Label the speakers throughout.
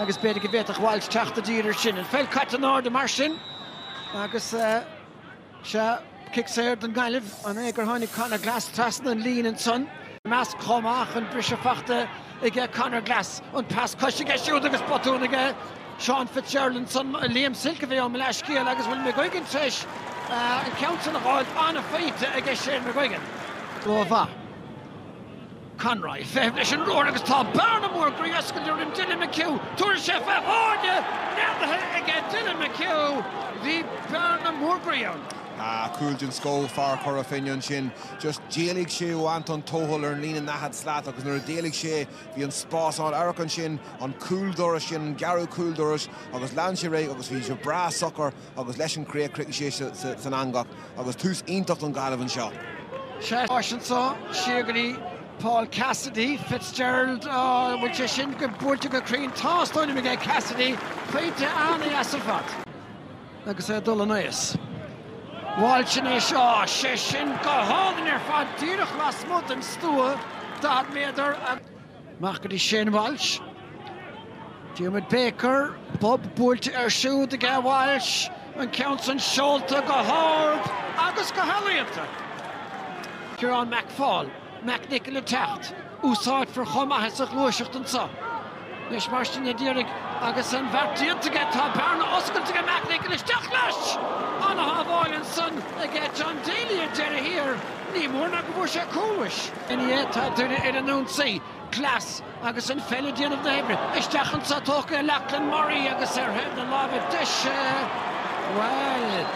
Speaker 1: agus b'fhéidir go bhféadfadh Walsh teacht i dtír air sin. An pheil caite in airde mar sin agus sea, cic saor don Ghaillimh. An é gur tháinig Conor Glass trasna an lín ansan? i measc chomh maith an briseadh fachta aige Conor Glass. An pas cois aige siúd agus botún aige Seán Fitzgerald ansan. Liam Silke a bhí ann mo leathscéal agus bhfuil McGuigan tar éis an ceann sin a fháil. An-phointe aige Shane McGuigan. Go maith. Conroy ag feitheamh leis an ruathar agus tá bearna mhór ghroí oscailte roimh Dylan McHugh. Tuairisc FF, Foirne neadaithe aige Dylan McHugh, bhí bearna mór groí ann. Ah, cúl den scoth, fear Chora Finne ansin. Just d'éalaigh sé ó Anton Tohill ar an líne daichead slat agus nuair a d'éalaigh sé, bhí an spás ann. Amharc ansin, an cúl dorais sin, an gearradh cúl dorais agus lean sé air agus bhí sé breá socair. agus leis an chríoch, chríochnaigh sé san eangach agus tús iontach don Ghaillimh anseo. Anseo siar go dtí Paul Cassidy, Fitzgerald an bhfuil sé sin go buailte go cruinn tástáil aige Cassidy cinnte an-ana fhada. agus é dul in éag. Buailte ansin é seo sé sin go hálainn ar fad díreach lasmuigh den stua daichead méadar an Amach go dtí Shane Walsh. Diarmuid Baker, bob buailte air siúd aige Walsh, an ceann san seolta go hard agus go healaíonta. Ciarán McFaul, McNicholl ag teacht, úsáidfear chomh maith é sa ghluaiseacht anseo. Leis mar sin a d'éirigh agus an beart déanta aige tá bearna oscailte aige McNicholl isteach leis! Ana-shábháil ansan aige John Daly ar deireadh thiar, ní mór ná go bhfuair sé cúl, mhuis. NIA, Tá Doire ar an ionsaí, Glass, agus an pheil ag déanamh na hoibre. Isteach anso tógtha aige Lachlan Murray agus ar thaobh na láimhe deise, bhuel,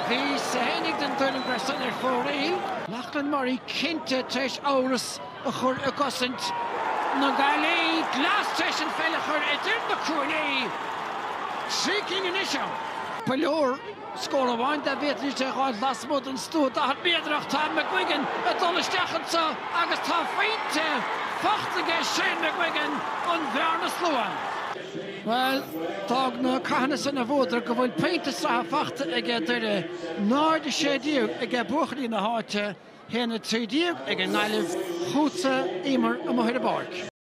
Speaker 1: bhí Sehenik den tuairim go raibh san ar fóraoil. Lachlan Murray cinnte tar éis amhras a chur i gcosaint na Gaillimhe, Glass tar éis an pheil a chur idir na cuaillí. Trí cinn anois ann. Ba leor Scór amháin dá bhféadfaidís a fháil lasmuigh den stua daichead méadrach, tá McGuigan ag dul isteach anseo agus tá pointe faighte aige Shane McGuigan an bhearna slánaithe. Bhuel, d'fhág na cathanna sin a bhuadar go bhfuil pointe sraithe faighte aige Doire, náid a sé déag aige buachaillí na háite, a haon a trí déag ag an nGaillimh, chughat a Éimear amuigh ar an bpáirc.